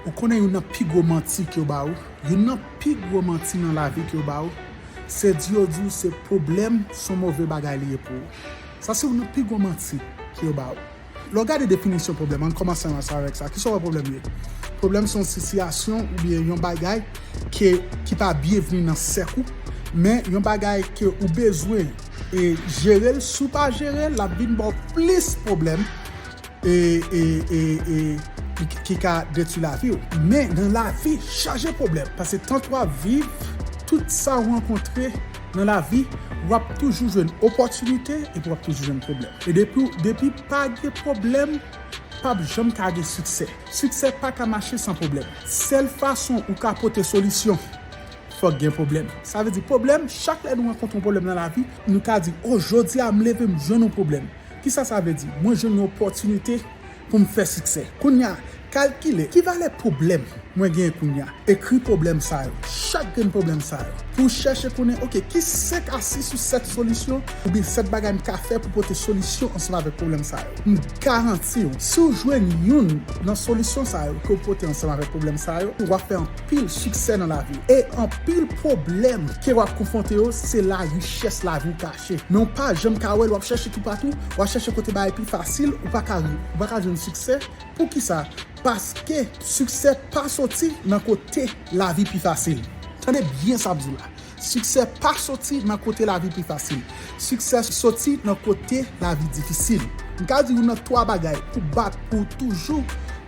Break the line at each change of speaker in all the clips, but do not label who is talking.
Ou konnen youn nan pi gwo manti ke yo ba ou? Youn nan pi gwo manti nan lavi ke yo ba ou, se di yo di ou se pwoblèm son move bagay li ye pou ou. Sa se youn nan pi gwo manti ke yo ba ou. Lè w gade definisyon pwoblèm, ann kòmanse ansanm avèk sa, kisa w wè pwoblèm ye? Pwoblèm se yon sitiyasyon oubyen yon bagay ke ki pa byenvni nan sèk ou, men yon bagay ke ou bezwen e jere l, si w pa jere l, l ap vin ba w plis pwoblèm. e e e e ki ka detwi lavi w men nan lavi chaje pwoblèm pase tant wap viv tout sa w rankontre nan lavi wap toujou jwenn opòtinite epi wap toujou jwenn pwoblèm e depi w depi pa gen pwoblèm pap janm ka gen siksè siksè paka mache san pwoblèm sèl fason ou ka pote solisyon fòk gen pwoblèm sa vle di pwoblèm chak lè nou rankontre yon pwoblèm nan lavi nou ka di o jodi a m leve m jwenn yon pwoblèm Kisa sa vle di? Mwen jwenn yon opòtinite pou m fè siksè. Kounye a, kalkile ki valè pwoblèm mwen genyen kounye a. Ekri pwoblèm sa yo, chak grenn pwoblèm sa yo, pou w chèche konnen, ok, ki senk a sis ou sèt solisyon oubyen sèt bagay m ka fè pou pote solisyon ansanm avèk pwoblèm sa yo. M garanti w, si w jwenn youn nan solisyon sa yo ke w pote ansanm avèk pwoblèm sa yo, w ap fè anpil siksè nan lavi w. E anpil pwoblèm ke w ap konfwonte yo, se la richès lavi w ka. chèche men ou pa janm ka wèl wap chèche toupatou wap chèche kote bagay pi fasil ou paka ou paka jwenn siksè poukisa paske siksè pa soti nan kote lavi pi fasil tande byen sap diw la siksè pa soti nan kote lavi pi fasil siksè soti nan kote lavi difisil mka diw nan 3 bagay pou bat pou toujou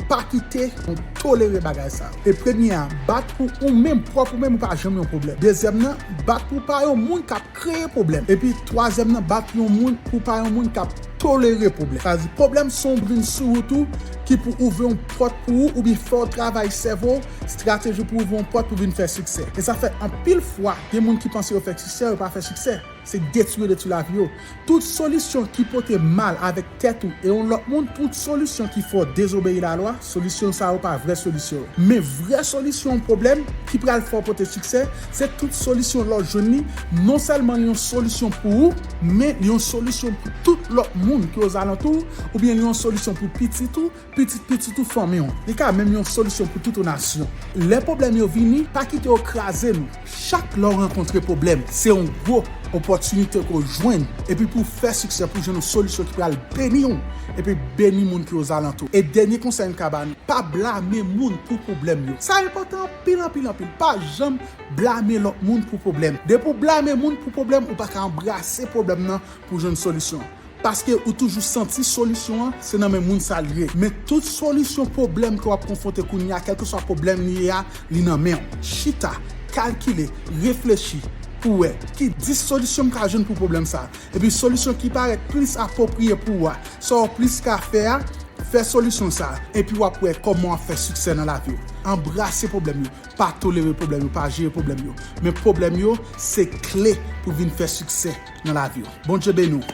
pa kite yon tolere bagay sa e premye a bat pou ou menm pwòp ou menm ou pa janm yon pwoblèm dezyèm nan bat pou pa yon moun kap kreye pwoblèm epi twazyèm nan bat yon moun pou pa yon moun kap tolere pwoblèm sa vle di pwoblèm son brin sou wout ou ki pou ouvri yon pòt pou ou oubyen fè w travay sèvo w strateji pou ouvri yon pòt pou vin fè siksè e sa fè anpil fwa gen moun ki panse yo fè siksè yo pa fè siksè se detwi yo detwi lavi yo tout solisyon ki pote mal avèk. Tèt ou e yon lòt moun tout solisyon ki fè w dezobeyi lalwa, solisyon sa yo pa vrè solisyon yo. Men vrè solisyon yon pwoblèm ki pral fè w pote siksè, se tout solisyon lè w jwenn li, non sèlman li yon solisyon pou ou, men li yon solisyon pou tout lòt moun ki ozalantou w, oubyen li yon solisyon pou pitit ou, Pitit pitit ou fanmi w. Li ka menm yon solisyon pou tout yon nasyon. Lè pwoblèm yo vini, pa kite yo kraze nou. Chak lè w rankontre pwoblèm, se yon gwo opòtinite ke w jwenn epi pou w fè siksè pou w jwenn yon solisyon ki pral beni w epi beni moun ki ozalantou w. E dènye konsèy m ka ba nou, pa blame moun pou pwoblèm yo. Sa enpòtan anpil anpil anpil. Pa janm blame lòt moun pou pwoblèm. Depi w blame moun pou pwoblèm, ou pa ka anbrase pwoblèm nan pou w jwenn solisyon an. Paske ou toujou santi solisyon an se nan men moun sa l ye. Men tout solisyon pwoblèm ke w ap konfwonte kounye a, kèlkeswa pwoblèm li ye a, li nan men w. Chita, kalkile, reflechi pou wè ki 10 solisyon m ka jwenn pou pwoblèm sa a. Epi solisyon ki parèt plis apwopriye pou ou a, sa w plis ka fè a, fè solisyon sa a. Epi w ap wè kòman w ap fè siksè nan lavi w. Anbrase pwoblèm yo. Pa tolere pwoblèm yo, pa jere pwoblèm yo. Men pwoblèm yo se kle pou vin fè siksè nan lavi w. Bondye beni w.